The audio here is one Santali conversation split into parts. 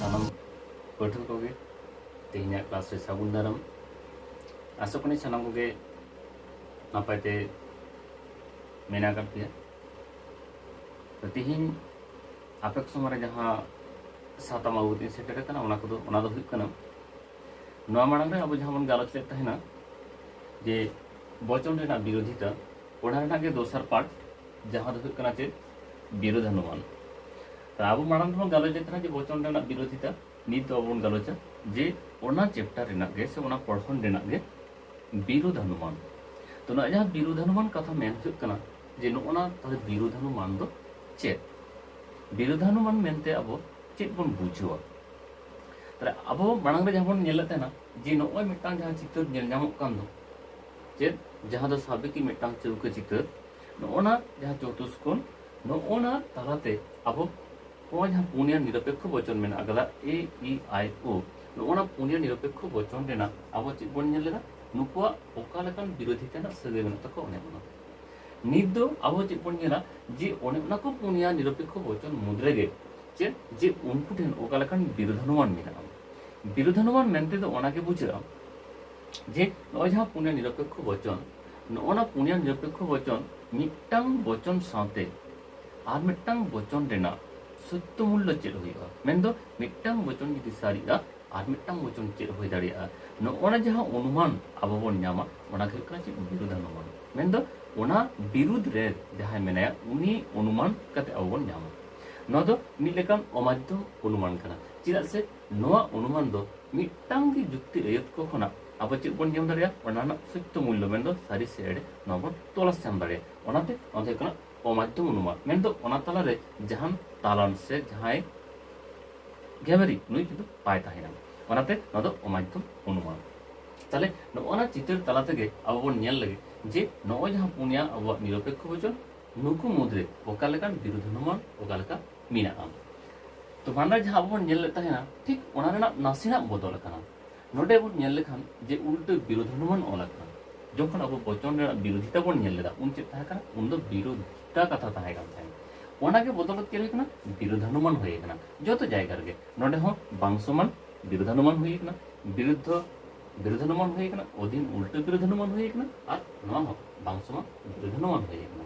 ᱥᱟᱱᱟᱢ ᱯᱟᱹᱴᱷᱩᱣᱟᱹ ᱠᱚᱜᱮ ᱛᱮᱦᱮᱧᱟᱜ ᱠᱞᱟᱥ ᱨᱮ ᱥᱟᱹᱜᱩᱱ ᱫᱟᱨᱟᱢ ᱟᱥᱚᱜ ᱠᱟᱹᱱᱟᱹᱧ ᱥᱟᱱᱟᱢ ᱠᱚᱜᱮ ᱱᱟᱯᱟᱭ ᱛᱮ ᱢᱮᱱᱟᱜ ᱟᱠᱟᱫ ᱯᱮᱭᱟ ᱛᱚ ᱛᱮᱦᱮᱧ ᱟᱯᱮ ᱠᱚ ᱥᱚᱢᱚᱭ ᱨᱮ ᱡᱟᱦᱟᱸ ᱥᱟᱛᱟᱢ ᱟᱹᱜᱩ ᱠᱟᱛᱮᱧ ᱥᱮᱴᱮᱨ ᱟᱠᱟᱱᱟ ᱚᱱᱟ ᱠᱚᱫᱚ ᱚᱱᱟ ᱫᱚ ᱦᱩᱭᱩᱜ ᱠᱟᱱᱟ ᱱᱚᱣᱟ ᱢᱟᱲᱟᱝ ᱨᱮ ᱟᱵᱚ ᱡᱟᱦᱟᱸ ᱵᱚᱱ ᱜᱟᱞᱚᱪ ᱞᱮᱫ ᱛᱟᱦᱮᱱᱟ ᱡᱮ ᱵᱚᱪᱚᱱ ᱨᱮᱱᱟᱜ ᱵᱤᱨᱳᱫᱷᱤᱛᱟ ᱚᱱᱟ ᱨᱮᱱᱟᱜ ᱜᱮ ᱫᱚᱥᱟᱨ ᱯᱟᱨᱴ ᱡᱟᱦᱟᱸ ᱫᱚ ᱦᱩᱭᱩᱜ ᱠᱟᱱᱟ ᱪᱮᱫ ᱵᱤᱨᱳᱫᱷᱟᱱᱩᱢᱟᱱ ᱟᱵᱚ ᱢᱟᱲᱟᱝ ᱦᱚᱸ ᱜᱟᱞᱚᱪ ᱮᱫ ᱛᱟᱦᱮᱱᱟ ᱡᱮ ᱵᱚᱪᱚᱱ ᱨᱮᱱᱟᱜ ᱵᱤᱨᱳᱫᱷᱤᱛᱟ ᱱᱤᱛ ᱫᱚ ᱵᱚᱱ ᱜᱟᱞᱚᱪᱟ ᱡᱮ ᱚᱱᱟ ᱪᱮᱯᱴᱟᱨ ᱨᱮᱱᱟᱜ ᱜᱮ ᱥᱮ ᱚᱱᱟ ᱯᱚᱲᱦᱚᱱ ᱨᱮᱱᱟᱜ ᱜᱮ ᱵᱤᱨᱳᱫᱷᱟᱱᱩᱢᱟᱱ ᱛᱚ ᱱᱚᱣᱟ ᱡᱟᱦᱟᱸ ᱵᱤᱨᱳᱫᱷᱟᱱᱩᱢᱟᱱ ᱠᱟᱛᱷᱟ ᱢᱮᱱ ᱦᱩᱭᱩᱜ ᱠᱟᱱᱟ ᱡᱮ ᱱᱚᱜᱼᱚᱱᱟ ᱛᱟᱦᱚᱞᱮ ᱵᱤᱨᱳᱫᱷᱟᱱᱩᱢᱟᱱ ᱫᱚ ᱪᱮᱫ ᱵᱤᱨᱳᱫᱷᱟᱱᱩᱢᱟᱱ ᱢᱮᱱᱛᱮ ᱟᱵᱚ ᱪᱮᱫ ᱵᱚᱱ ᱵᱩᱡᱷᱟᱹᱣᱟ ᱛᱟᱦᱚᱞᱮ ᱟᱵᱚ ᱢᱟᱲᱟᱝ ᱨᱮ ᱡᱟᱦᱟᱸ ᱵᱚᱱ ᱧᱮᱞᱮᱫ ᱛᱟᱦᱮᱱᱟ ᱡᱮ ᱱᱚᱜᱼᱚᱭ ᱢᱤᱫᱴᱟᱝ ᱡᱟᱦᱟᱸ ᱪᱤᱛᱟᱹᱨ ᱧᱮᱞ ᱧᱟᱢᱚᱜ ᱠᱟᱱ ᱫᱚ ᱪᱮᱫ ᱡᱟᱦᱟᱸ ᱫᱚ ᱥᱟᱵ ᱠᱤ ᱢᱤᱫᱴᱟᱝ ᱪᱟᱹᱣᱠᱟᱹ ᱪᱤᱛᱟᱹᱨ ᱱᱚᱜᱼᱚᱱᱟ ᱡᱟᱦᱟᱸ ᱪᱚᱛᱩᱥᱠᱳᱱ ᱱᱚᱜᱼᱚᱱᱟ ᱛᱟᱞᱟᱛᱮ ᱟᱵᱚ ᱱᱚᱣᱟ ᱡᱟᱦᱟᱸ ᱯᱩᱱᱭᱟ ᱱᱤᱨᱚᱯᱮᱠᱠᱷᱚ ᱵᱚᱪᱚᱱ ᱢᱮᱱᱟᱜ ᱟᱠᱟᱫᱟ ᱮ ᱤ ᱟᱭ ᱳ ᱱᱚᱜᱼᱚᱱᱟ ᱯᱩᱱᱭᱟ ᱱᱤᱨᱚᱯᱮᱠᱠᱷᱚ ᱵᱚᱪᱚᱱ ᱨᱮᱱᱟᱜ ᱟᱵᱚ ᱪᱮᱫ ᱵᱚᱱ ᱧᱮᱞ ᱞᱮᱫᱟ ᱱᱩᱠᱩᱣᱟᱜ ᱚᱠᱟ ᱞᱮᱠᱟᱱ ᱵᱤᱨᱳᱫᱷᱤ ᱛᱮᱱᱟᱜ ᱥᱟᱹᱜᱟᱹᱭ ᱢᱮᱱᱟᱜ ᱛᱟᱠᱚ ᱚᱱᱮ ᱚᱱᱟ ᱱᱤᱛ ᱫᱚ ᱟᱵᱚ ᱪᱮᱫ ᱵᱚᱱ ᱧᱮᱞᱟ ᱡᱮ ᱚᱱᱮ ᱚᱱᱟ ᱠᱚ ᱯᱩᱱᱭᱟ ᱱᱤᱨᱚᱯᱮᱠᱠᱷᱚ ᱵᱚᱪᱚᱱ ᱢᱩᱫᱽ ᱨᱮᱜᱮ ᱪᱮᱫ ᱡᱮ ᱩᱱᱠᱩ ᱴᱷᱮᱱ ᱚᱠᱟ ᱞᱮᱠᱟᱱ ᱵᱤᱨᱳᱫᱷᱟᱱᱩᱢᱟᱱ ᱢᱮᱱᱟᱜᱼᱟ ᱵᱤᱨᱳᱫᱷᱟᱱᱩᱢᱟᱱ ᱢᱮᱱᱛᱮ ᱫᱚ ᱚᱱᱟᱜᱮ ᱵᱩᱡᱷᱟᱹᱜᱼᱟ ᱡᱮ ᱱᱚᱜᱼᱚᱭ ᱡᱟᱦᱟᱸ ᱯᱩᱱᱭᱟ ᱱᱤᱨᱚᱯᱮᱠᱠᱷᱚ ᱵᱚᱪᱚᱱ ᱱᱚᱜᱼᱚ ᱱᱟ ᱯᱩᱱᱭᱟ ᱱᱤᱨᱚᱯᱮᱠᱠᱷᱚ ᱵᱚᱪᱚᱱ ᱢᱤᱫᱴᱟᱝ ᱵᱚᱪᱚᱱ ᱥᱟᱶᱛᱮ ᱟᱨ ᱢᱤᱫᱴᱟᱝ ᱵᱚᱪᱚᱱ ᱨᱮᱱᱟᱜ ᱥᱚᱛᱭᱚ ᱢᱩᱞᱞᱚ ᱪᱮᱫ ᱦᱩᱭᱩᱜᱼᱟ ᱢᱮᱱᱫᱚ ᱢᱤᱫᱴᱟᱝ ᱵᱚᱪᱚᱱ ᱡᱩᱫᱤ ᱥᱟᱹᱨᱤᱜᱼᱟ ᱟᱨ ᱢᱤᱫᱴᱟᱝ ᱵᱚᱪᱚᱱ ᱪᱮᱫ ᱦᱩᱭ ᱫᱟᱲᱮᱭᱟᱜᱼᱟ ᱱᱚᱜᱼᱚ ᱱᱟ ᱡᱟᱦᱟᱸ ᱚᱱᱩᱢᱟᱱ ᱟᱵᱚ ᱵᱚᱱ ᱧᱟᱢᱟ ᱚᱱᱟ ᱜᱮ ᱦᱩᱭᱩᱜ ᱠᱟᱱᱟ ᱪᱮᱫ ᱵᱤᱨᱩᱫᱷ ᱚᱱᱩᱢᱟᱱ ᱢᱮᱱᱫᱚ ᱚᱱᱟ ᱵᱤᱨᱩᱫᱷ ᱨᱮ ᱡᱟᱦᱟᱸᱭ ᱢᱮᱱᱟᱭᱟ ᱩᱱᱤ ᱚᱱᱩᱢᱟᱱ ᱠᱟᱛᱮ ᱟᱵᱚ ᱵᱚᱱ ᱧᱟᱢᱟ ᱱᱚᱣᱟ ᱫᱚ ᱢᱤᱫ ᱞᱮᱠᱟᱱ ᱚᱢᱟᱫᱽᱫᱷᱚᱢ ᱚᱱᱩᱢᱟᱱ ᱠᱟᱱᱟ ᱪᱮᱫᱟᱜ ᱥᱮ ᱱᱚᱣᱟ ᱚᱱᱩᱢᱟᱱ ᱫᱚ ᱢᱤᱫᱴᱟᱝ ᱜᱮ ᱡᱩᱠᱛᱤ ᱟᱹᱭᱟᱹᱛ ᱠᱚ ᱠᱷᱚᱱᱟᱜ ᱟᱵᱚ ᱪᱮᱫ ᱵᱚᱱ ᱧᱟᱢ ᱫᱟᱲᱮᱭᱟᱜᱼᱟ ᱚᱱᱟ ᱨᱮᱱᱟᱜ ᱥᱚᱛᱭᱚ ᱢᱩᱞᱞᱚ ᱢᱮᱱᱫᱚ ᱥᱟᱹᱨᱤ ᱥᱮ ᱮᱲᱮ ᱱᱚᱣᱟ ᱵᱚᱱ ᱛᱚᱞᱟᱥ ᱧᱟᱢ ᱫᱟᱲᱮᱭᱟᱜᱼᱟ ᱚᱱᱟᱛᱮ ᱱᱚᱣᱟ ᱫᱚ ᱦᱩᱭᱩᱜ ᱠᱟᱱᱟ ᱚᱢᱟᱫᱽᱫᱷᱚᱢ ᱚᱱᱩᱢᱟᱱ ᱢᱮᱱᱫᱚ ᱚᱱᱟ ᱛᱟᱞᱟᱨᱮ ᱡᱟᱦᱟᱱ ᱛᱟᱞᱟᱱ ᱥᱮ ᱡᱟᱦᱟᱸᱭ ᱜᱮᱵᱮᱨᱤ ᱱᱩᱭ ᱠᱤᱱᱛᱩ ᱵᱟᱭ ᱛᱟᱦᱮᱱᱟ ᱚᱱᱟᱛᱮ ᱱᱚᱣᱟ ᱫᱚ ᱚᱢᱟᱫᱽᱫᱷᱚᱢ ᱚᱱᱩᱢᱟᱱ ᱛᱟᱦᱞᱮ ᱱᱚᱜᱼᱚ ᱱᱟ ᱪᱤᱛᱟᱹᱨ ᱛᱟᱞᱟ ᱛᱮᱜᱮ ᱟᱵᱚ ᱵᱚᱱ ᱧᱮᱞ ᱞᱟᱹᱜᱤᱫ ᱡᱮ ᱱᱚᱜᱼᱚᱭ ᱡᱟᱦᱟᱸ ᱯᱩᱱᱭᱟ ᱟᱵᱚᱣᱟᱜ ᱱᱤᱨᱚᱯᱮᱠᱠᱷᱚ ᱵᱚᱪᱚᱱ ᱱᱩᱠᱩ ᱢᱩᱫᱽᱨᱮ ᱚᱠᱟ ᱞᱮᱠᱟᱱ ᱵᱤᱨᱩᱫᱷ ᱚᱱᱩᱢᱟᱱ ᱚᱠᱟ ᱞᱮᱠᱟ ᱢᱮᱱᱟᱜᱼᱟ ᱛᱚ ᱵᱟᱱᱨᱟ ᱡᱟᱦᱟᱸ ᱟᱵᱚ ᱵᱚᱱ ᱧᱮᱞ ᱞᱮᱫ ᱛᱟᱦᱮᱱᱟ ᱴᱷᱤᱠ ᱚᱱᱟ ᱨᱮᱱᱟᱜ ᱱᱟᱥᱮᱱᱟᱜ ᱵᱚᱫᱚᱞ ᱟᱠᱟᱱᱟ ᱱᱚᱰᱮ ᱵᱚᱱ ᱧᱮᱞ ᱞᱮᱠᱷᱟᱱ ᱡᱮ ᱩᱞᱴᱟᱹ ᱵᱤᱨᱳᱫᱷᱚᱱᱩᱢᱟᱱ ᱚᱞ ᱟᱠᱟᱱᱟ ᱡᱚᱠᱷᱚᱱ ᱟᱵᱚ ᱵᱚᱪᱚᱱ ᱨᱮᱱᱟᱜ ᱵᱤᱨᱳᱫᱷᱤᱛᱟ ᱵᱚᱱ ᱧᱮᱞ ᱞᱮᱫᱟ ᱩᱱ ᱪᱮᱫ ᱛᱟᱦᱮᱸ ᱠᱟᱱᱟ ᱩᱱ ᱫᱚ ᱵᱤᱨᱳᱫᱷᱤᱛᱟ ᱠᱟᱛᱷᱟ ᱛᱟᱦᱮᱸ ᱠᱟᱱ ᱛᱟᱦᱮᱸᱫ ᱚᱱᱟᱜᱮ ᱵᱚᱫᱚᱞ ᱪᱮᱫ ᱦᱩᱭ ᱠᱟᱱᱟ ᱵᱤᱨᱳᱫᱷᱟᱱᱩᱢᱟᱱ ᱦᱩᱭ ᱠᱟᱱᱟ ᱡᱚᱛᱚ ᱡᱟᱭᱜᱟ ᱨᱮᱜᱮ ᱱᱚᱰᱮ ᱦᱚᱸ ᱵᱟᱝ ᱥᱚᱢᱟᱱ ᱵᱤᱨᱳᱫᱷᱟᱱᱩᱢᱟᱱ ᱦᱩᱭ ᱠᱟᱱᱟ ᱵᱤᱨᱩᱫᱽᱫᱷ ᱵᱤᱨᱳᱫᱷᱟᱱᱩᱢᱟᱱ ᱦᱩᱭ ᱠᱟᱱᱟ ᱚᱫᱷᱤᱱ ᱩᱞᱴᱟᱹ ᱵᱤᱨᱳᱫᱷᱟᱱᱩᱢᱟᱱ ᱦᱩᱭ ᱠᱟᱱᱟ ᱟᱨ ᱱᱚᱣᱟ ᱦᱚᱸ ᱵᱟᱝ ᱥᱚᱢᱟᱱ ᱵᱤᱨᱳᱫᱷᱟᱱᱩᱢᱟᱱ ᱦᱩᱭ ᱠᱟᱱᱟ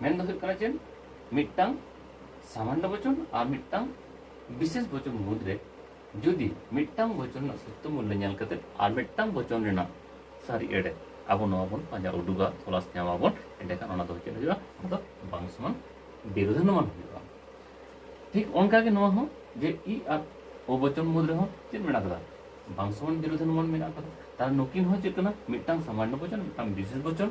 ᱢᱮᱱ ᱫᱚ ᱦᱩᱭᱩᱜ ᱠᱟᱱᱟ ᱪᱮᱫ ᱢᱤᱫᱴᱟᱝ ᱥᱟᱢᱟᱱᱱᱚ ᱵᱚᱪᱚᱱ ᱟᱨ ᱢᱤᱫᱴᱟᱝ ᱵᱤᱥᱮᱥ ᱵᱚᱪᱚᱱ ᱢᱩᱫᱽ ᱨᱮ ᱡᱩᱫᱤ ᱢᱤᱫᱴᱟᱝ ᱵᱚᱪᱚᱱ ᱨᱮᱱᱟᱜ ᱥᱚᱛᱛᱚ ᱢᱩᱞᱞᱚ ᱧᱮᱞ ᱠᱟᱛᱮ ᱟᱨ ᱢᱤᱫᱴᱟᱝ ᱵᱚᱪᱚᱱ ᱨᱮᱱᱟᱜ ᱥᱟᱹᱨᱤ ᱮᱲᱮ ᱟᱵᱚ ᱱᱚᱣᱟ ᱵᱚᱱ ᱯᱟᱸᱡᱟ ᱩᱰᱩᱠᱟ ᱛᱚᱞᱟᱥ ᱧᱟᱢᱟᱵᱚᱱ ᱮᱸᱰᱮᱠᱷᱟᱱ ᱚᱱᱟ ᱫᱚ ᱪᱮᱫ ᱦᱩᱭᱩᱜᱼᱟ ᱚᱱᱟ ᱫᱚ ᱵᱟᱝ ᱥᱚᱢᱟᱱ ᱵᱤᱨᱳধানুমান ᱦᱩᱭᱩᱜᱼᱟ ᱴᱷᱤᱠ ᱚᱱᱠᱟ ᱜᱮ ᱱᱚᱣᱟ ᱦᱚᱸ ᱡᱮ ᱤ ᱟᱨ ᱳ ᱵᱚᱪᱚᱱ ᱢᱩᱫᱽ ᱨᱮᱦᱚᱸ ᱪᱮᱫ ᱢᱮᱱᱟᱜ ᱟᱠᱟᱫᱟ ᱵᱟᱝ ᱥᱚᱢᱟᱱ ᱵᱤᱨᱳধানুমান ᱢᱮᱱᱟᱜ ᱟᱠᱟᱫᱟ ᱛᱟᱦᱚᱞᱮ ᱱᱩᱠᱤᱱ ᱦᱚᱸ ᱪᱮᱫ ᱠᱟᱱᱟ ᱢᱤᱫᱴᱟᱝ ᱥᱟᱢᱟᱱᱱᱚ ᱵᱚᱪᱚᱱ ᱢᱤᱫᱴᱟᱝ ᱵᱤᱥᱮᱥ ᱵᱚᱪᱚᱱ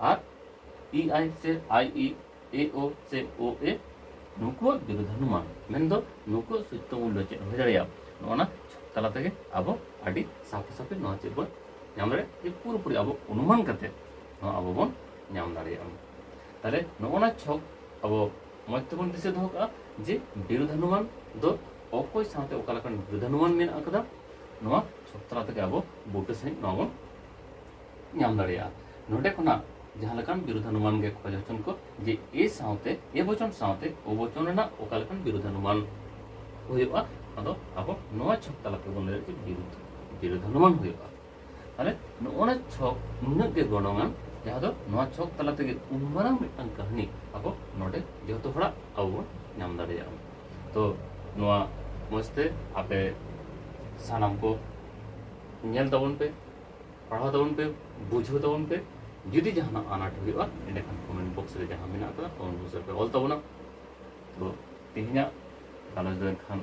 ᱟᱨ ᱤ ᱟᱭ ᱥᱮ ᱟᱭ ᱤ ᱮ ᱳ ᱥᱮ ᱳ ᱮ ᱱᱩᱠᱩᱣᱟᱜ ᱵᱤᱨᱩᱫᱷᱟᱱᱩᱢᱟᱱ ᱢᱮᱱᱫᱚ ᱱᱩᱠᱩᱣᱟᱜ ᱥᱩᱪᱛᱚ ᱢᱩᱞᱞᱚ ᱪᱮᱫ ᱦᱩᱭ ᱫᱟᱲᱮᱭᱟᱜᱼᱟ ᱱᱚᱜᱼᱚᱱᱟ ᱛᱟᱞᱟ ᱛᱮᱜᱮ ᱟᱵᱚ ᱟᱹᱰᱤ ᱥᱟᱯᱷᱟ ᱥᱟᱯᱷᱤ ᱱᱚᱣᱟ ᱪᱮᱫ ᱵᱚᱱ ᱧᱟᱢ ᱫᱟᱲᱮᱭᱟᱜᱼᱟ ᱡᱮ ᱯᱩᱨᱟᱹᱯᱩᱨᱤ ᱟᱵᱚ ᱚᱱᱩᱢᱟᱱ ᱠᱟᱛᱮ ᱱᱚᱣᱟ ᱟᱵᱚ ᱵᱚᱱ ᱧᱟᱢ ᱫᱟᱲᱮᱭᱟᱜᱼᱟ ᱛᱟᱦᱞᱮ ᱱᱚᱜᱼᱚᱱᱟ ᱪᱷᱚᱠ ᱟᱵᱚ ᱢᱚᱡᱽ ᱛᱮᱵᱚᱱ ᱫᱤᱥᱟᱹ ᱫᱚᱦᱚ ᱠᱟᱜᱼᱟ ᱡᱮ ᱵᱤᱨᱩᱫᱷᱟᱱᱩᱢᱟᱱ ᱫᱚ ᱚᱠᱚᱭ ᱥᱟᱶᱛᱮ ᱚᱠᱟ ᱞᱮᱠᱟᱱ ᱵᱤᱨᱩᱫᱷᱟᱱᱩᱢᱟᱱ ᱢᱮᱱᱟᱜ ᱟᱠᱟᱫᱟ ᱱᱚᱣᱟ ᱪᱷᱚᱠ ᱛᱟᱞᱟ ᱛᱮᱜᱮ ᱟᱵᱚ ᱵᱩᱴᱟᱹ ᱥᱟᱺᱦᱤᱡ ᱱᱚᱣᱟ ᱵᱚᱱ ᱧᱟᱢ ᱫᱟᱲᱮᱭᱟᱜᱼᱟ ᱱᱚᱰᱮ ᱠᱷᱚᱱᱟᱜ ᱡᱟᱦᱟᱸ ᱞᱮᱠᱟᱱ ᱵᱤᱨᱩᱫᱷᱟᱱᱩᱢᱟᱱ ᱜᱮ ᱠᱷᱚᱡᱽ ᱦᱚᱪᱚᱱ ᱠᱚ ᱡᱮ ᱮ ᱥᱟᱶᱛᱮ ᱮ ᱵᱚᱪᱚᱱ ᱥᱟᱶᱛᱮ ᱳ ᱵᱚᱪᱚᱱ ᱨᱮᱱᱟᱜ ᱚᱠᱟ ᱞᱮᱠᱟᱱ ᱵᱤᱨᱩᱫᱷᱟᱱᱩᱢᱟᱱ ᱦᱩᱭᱩᱜᱼᱟ ᱟᱫᱚ ᱟᱵᱚ ᱱᱚᱣᱟ ᱪᱷᱚᱠ ᱛᱟᱞᱟ ᱛᱮᱵᱚᱱ ᱞᱟᱹᱭ ᱫᱟᱲᱮᱭᱟᱜᱼᱟ ᱡᱮ ᱵᱤᱨᱩᱫᱷ ᱵᱤᱨᱩᱫᱷᱟᱱᱩᱢᱟᱱ ᱦᱩᱭᱩᱜᱼᱟ ᱛᱟᱦᱚᱞᱮ ᱱᱚᱜᱼᱚᱱᱟ ᱪᱷᱚᱠ ᱱᱩᱱᱟᱹᱜ ᱜᱮ ᱜᱚᱱᱚᱝᱟᱱ ᱡᱟᱦᱟᱸ ᱫᱚ ᱱᱚᱣᱟ ᱪᱷᱚᱠ ᱛᱟᱞᱟ ᱛᱮᱜᱮ ᱩᱱ ᱢᱟᱨᱟᱝ ᱢᱤᱫᱴᱟᱝ ᱠᱟᱹᱦᱱᱤ ᱟᱵᱚ ᱱᱚᱰᱮ ᱡᱚᱛᱚ ᱦᱚᱲᱟᱜ ᱟᱵᱚ ᱵᱚᱱ ᱧᱟᱢ ᱫᱟᱲᱮᱭᱟᱜᱼᱟ ᱛᱚ ᱱᱚᱣᱟ ᱢᱚᱡᱽᱛᱮ ᱟᱯᱮ ᱥᱟᱱᱟᱢ ᱠᱚ ᱧᱮᱞ ᱛᱟᱵᱚᱱ ᱯᱮ ᱯᱟᱲᱦᱟᱣ ᱛᱟᱵᱚᱱ ᱯᱮ ᱵᱩᱡᱷᱟᱹᱣ ᱛᱟᱵᱚᱱ ᱯᱮ ᱡᱩᱫᱤ ᱡᱟᱦᱟᱱᱟᱜ ᱟᱱᱟᱴ ᱦᱩᱭᱩᱜᱼᱟ ᱮᱸᱰᱮᱠᱷᱟᱱ ᱠᱚᱢᱮᱱᱴ ᱵᱚᱠᱥ ᱨᱮ ᱡᱟᱦᱟᱸ ᱢᱮᱱᱟᱜ ᱟᱠᱟᱫᱟ ᱠᱚᱢᱮᱱᱴ ᱵᱚᱠᱥ ᱨᱮᱯᱮ ᱚᱞ ᱛᱟᱵᱚᱱᱟ ᱛᱚ ᱛᱮᱦᱮᱧᱟᱜ ᱜᱟᱞᱚᱪ ᱫᱚ ᱮᱱᱠᱷᱟᱱ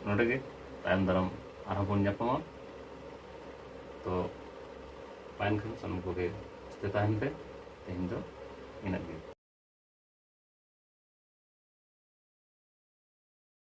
ᱱᱚᱰᱮ ᱜᱮ ᱛᱟᱭᱚᱢ ᱫᱟᱨᱟᱢ ᱟᱨᱦᱚᱸ ᱵᱚᱱ ᱧᱟᱯᱟᱢᱟ ᱛᱚ ᱢᱟ ᱮᱱᱠᱷᱟᱱ ᱥᱟᱱᱟᱢ ᱠᱚᱜᱮ ᱥᱩᱥᱛᱷᱚ ᱛᱟᱦᱮᱱ ᱯᱮ ᱛᱮᱦᱮᱧ ᱫᱚ ᱤᱱᱟᱹᱜ ᱜᱮ